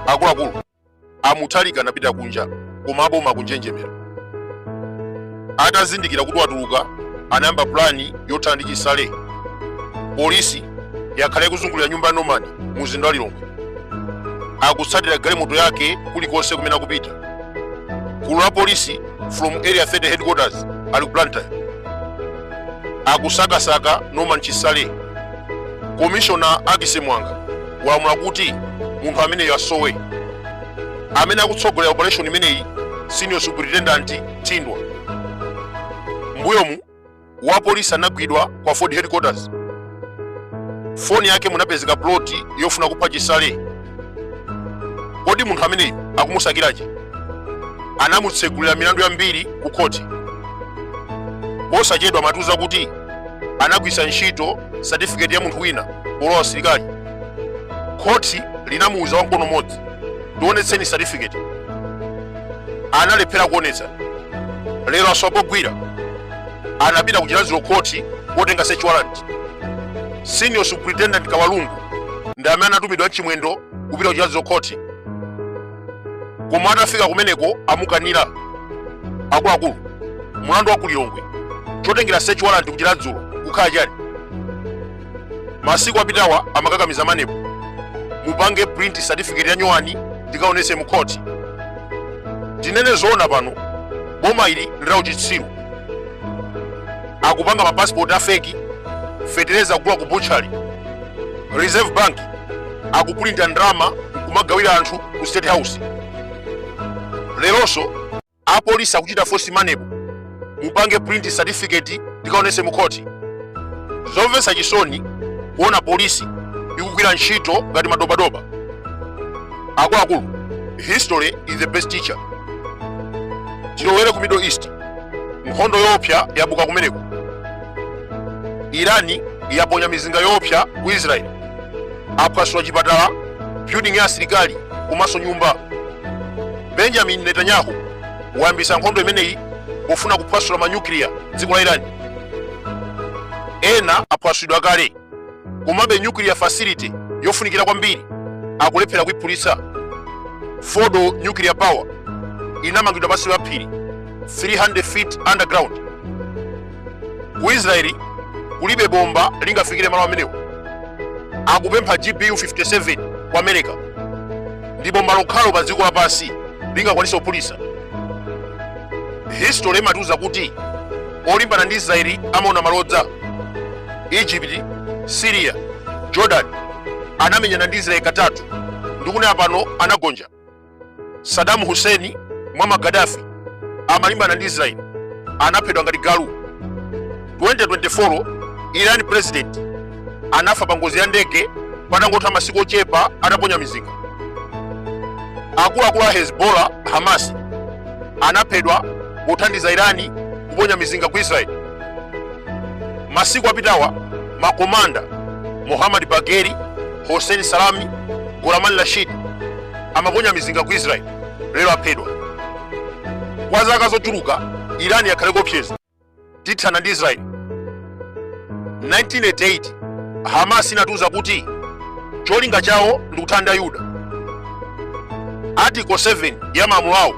akuluakulu amutharika anapita kunja koma aboma akunjenjemera atazindikira kuti watuluka anayamba pulani yothana ndi chisale polisi yakhala ikuzungulira nyumba ya norman mu mzinda wa lilongwe akutsatira galimoto yake kulikonse kumene akupita gulu la polisi from area 30 headquarters ali ku blantyre akusakasaka norman chisale komishona ackis muwanga walamula kuti munthu ameneyo asowe amene akutsogolera operation imeneyi senior superintendent thindwa mbuyomu wapolisi anagwidwa ku aford headquarters foni yake munapezeka ploti yofuna kupha chisale kodi munthu ameneyu akumusakiranji anamutsegulira milandu yambiri ku khoti posachedwa amatiuza kuti anagwiritsa ntchito satifiketi ya munthu wina polowa asilikali khoti linamuuza wamkono mmodzi tionetseni satifiketi analephera kuonetsa lero asowa pogwira anapita ku chiradzulu khoti kotenga search warrant senior superintendent kawalungu ndi amene anatumidwa ndi chimwendo kupita ku chiradzulu khoti koma atafika kumeneko amukanira akuluakulu mulandu wa kulilongwe chotengera search warrant ku chiradzulu kukhala chani masiku apitawa amakakamiza maneb mupange print certificate ya nyowani tikaonese mu khoti tinene zoona pano boma ili ndi la uchitsiru akupanga mapasipoti afeki fetereza kugula ku butchali reserve bank akupulinta ndalama kumagawira anthu ku state house leronso apolisi akuchita force maneb mupange print certificate tikaonese mu khoti zomvetsa chisoni kuona polisi ikugwira ntchito ngati madobadoba akuluakulu history is the best teacher tilowere ku middle east nkhondo yoopsa yabuka kumeneko irani yaponya mizinga yoopsa ku israel aphwasula chipatala building ya asilikali komanso nyumba benjamin netanyahu wayambisa nkhondo imeneyi pofuna kuphwasula manyukiliya dziko la irani ena aphwasulidwa kale komabe nuclear facility yofunikira kwambiri akulephera kuiphulitsa fordow nuclear power inamangidwa pansi pa phiri 300 feet underground ku israeli kulibe bomba lingafikire malo amenewo akupempha gbu 57 ku america ndi bomba lokhalo pa dziko lapansi lingakwanitse kuphulitsa history imatiuza kuti olimbana ndi israeli amaona malodza egypt syria jordan anamenyana ndi israeli katatu ndikunena pano anagonja saddam hussein muammar gaddafi amalimbana ndi israeli anaphedwa ngati galu 2024 iran president anafa pa ngozi ya ndege patangotha masiku ochepa ataponya mizinga akuluakulu a hezbollah hamas anaphedwa pothandiza irani kuponya mizinga ku israeli masiku apitawa makomanda mohammad bagheri hossein salami gholam rashid amaponya mizinga ku israeli lero aphedwa kwa zaka zochuluka irani yakhala ikuopseza tithana ndi israeli 1988 hamas inatiuza kuti cholinga chawo ndi kuthana ndi ayuda article 7 ya malamulo awo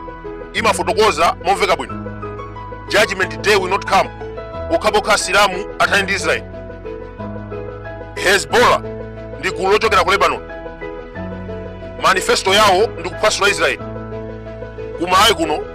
imafotokoza momveka bwino judgment day will not come pokhapokha asilamu athane ndi israeli hezbollah ndi gulu lochokera ku lebanon manifesto yawo ndi kuphwasula israeli ku malawi kuno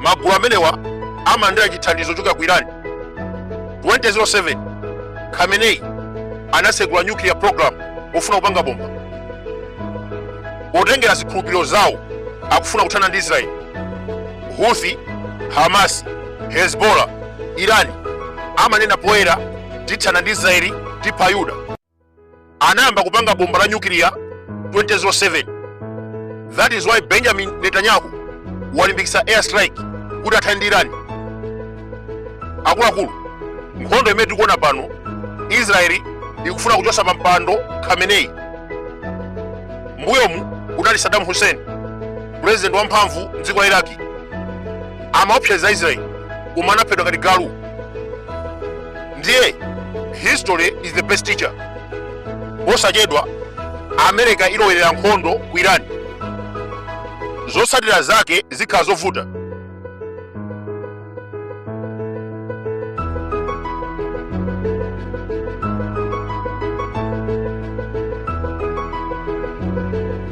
magulu amenewa amalandira chithandizo chochokera ku iran 2007 khamenei anasegula nuclear program pofuna kupanga bomba potengera zikhulupiriro zawo akufuna kuthana ndi israeli houthi hamas hezbollah irani amanena poyera tithana ndi israeli tipha ayuda anayamba kupanga bomba la nyukiliya 2007 that is why benjamin netanyahu walimbikitsa air strike kuti athane ndi irani akuluakulu nkhondo imene tikuona pano israeli ikufuna kuchotsa pa mpando khamenei mbuyomu kunali saddam hussein purezidenti wamphamvu mdziko la iraki amaopseza israeli koma anaphedwa ngati galu ndiye history is the best teacher posachedwa america ilowerera nkhondo ku iran zotsatira zake zikhala zovuta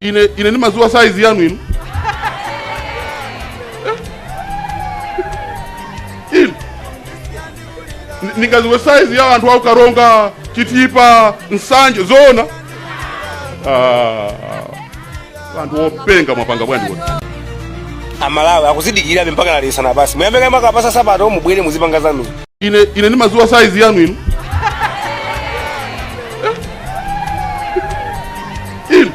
ine ine ndimadziwa saizi yanu inu Eh? inu Ni- ndingaziwe saizi ya anthu aku karonga chitipa nsanje zoona Ah, anthu openga mwapanga bwanji kuti amalawi akudzidikira mpaka nalisana basi muyambe kama kapasa nsapato mubwere muzipanga zanu ine ine ndimadziwa saizi yanu inu inu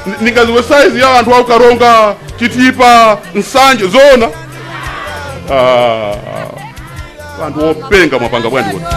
Ni- ningaziwe saizi ya anthu aku Karonga Chitipa Nsanje zoona Ah, anthu openga mwapanga bwanji kuti